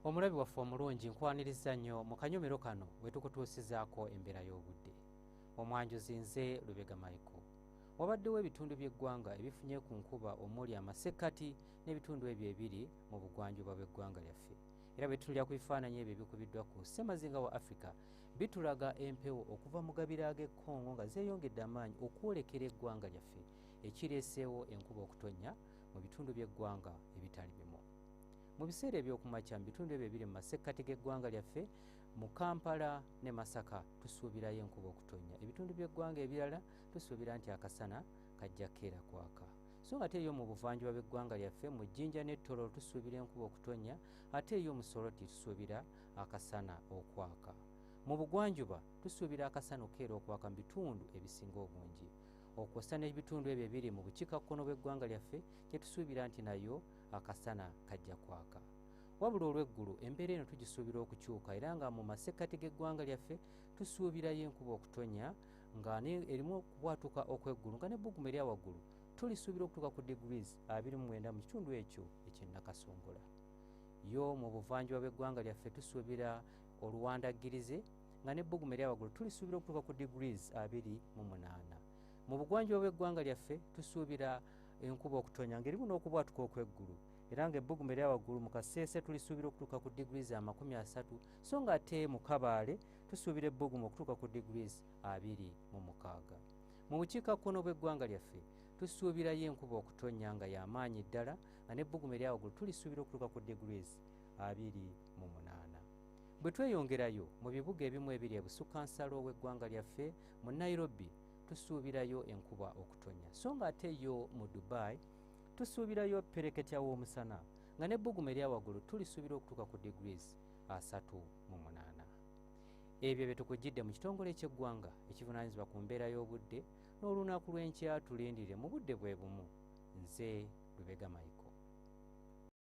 omulabi waffe omulungi nkwaniriza nnyo mu kanyomero kano wetukutuusizaako embeera y'obudde omwanjuzi nze lubega maiko wabaddewo ebitundu by'eggwanga ebifunye ku nkuba omuli amasekkati n'ebitundu ebyo ebiri mu bugwanjuba bw'eggwanga lyaffe era bwetunulira ku bifaananyi ebyo ebikubiddwa ku ssemazinga wa africa bitulaga empewo okuva mu gabira ag'ekkongo nga zeeyongedde amaanyi okwolekera eggwanga lyaffe ekireeseewo enkuba okutonnya mu bitundu by'eggwanga ebitali bimu Mu biseera eby'okumakya mu bitundu ebyo ebiri mu masekkati g'eggwanga lyaffe mu Kampala ne Masaka tusuubirayo enkuba okutonnya. Ebitundu by'eggwanga ebirala tusuubira nti akasana kajja keera kwaka. So ng'ate eyo mu buvanjuba bw'eggwanga lyaffe mu Jinja ne Toro tusuubira enkuba okutonnya ate eyo mu Soroti tusuubira akasana okwaka. Mu bugwanjuba tusuubira akasana okukeera okwaka mu bitundu ebisinga obungi. Okwosa n'ebitundu ebyo ebiri mu bukiikakkono bw'eggwanga lyaffe kye tusuubira nti nayo akasana kajja kwaka wabula olw'eggulu embeera eno tugisuubira okukyuka era nga mu masekkati g'eggwanga lyaffe tusuubirayo enkuba okutonya nga erimu okubwatuka okw'eggulu nga n'ebbugumu erya waggulu tulisuubira okutuuka ku degrees 29 mu kitundu ekyo ekyennakasongola yo mu buvanjuba bw'eggwanga lyaffe tusuubira oluwandaggirize nga n'ebbugumu erya waggulu tulisuubira okutuuka ku degrees 28 mu bugwanjuba bw'eggwanga lyaffe tusuubira enkuba okutonya ng'erimu n'okubwatuka okw'eggulu era ng'ebbugumu erya waggulu mu kaseese tulisuubira okutuuka ku degrees amakumi asatu so nga ate mu kabaale tusuubira ebbugumu okutuuka ku degrees abiri mu mukaaga mu bukiikakkono bw'eggwanga lyaffe tusuubirayo enkuba okutonya nga y'amaanyi ddala nga n'ebbugumu erya waggulu tulisuubira okutuuka ku degrees abiri mu munaana bwe tweyongerayo mu bibuga ebimu ebiri ebusukka nsalo w'eggwanga lyaffe mu nairobi tusuubirayo enkuba okutonya so nga ate yo mu dubai tusuubirayo pereketya w'omusana nga n'ebbugumu erya waggulu tulisuubira okutuuka ku degrees asatu mu munaana ebyo bye tukugidde mu kitongole eky'eggwanga ekivunaanyizibwa ku mbeera y'obudde n'olunaku lw'enkya tulindire mu budde bwe bumu nze lubega maiko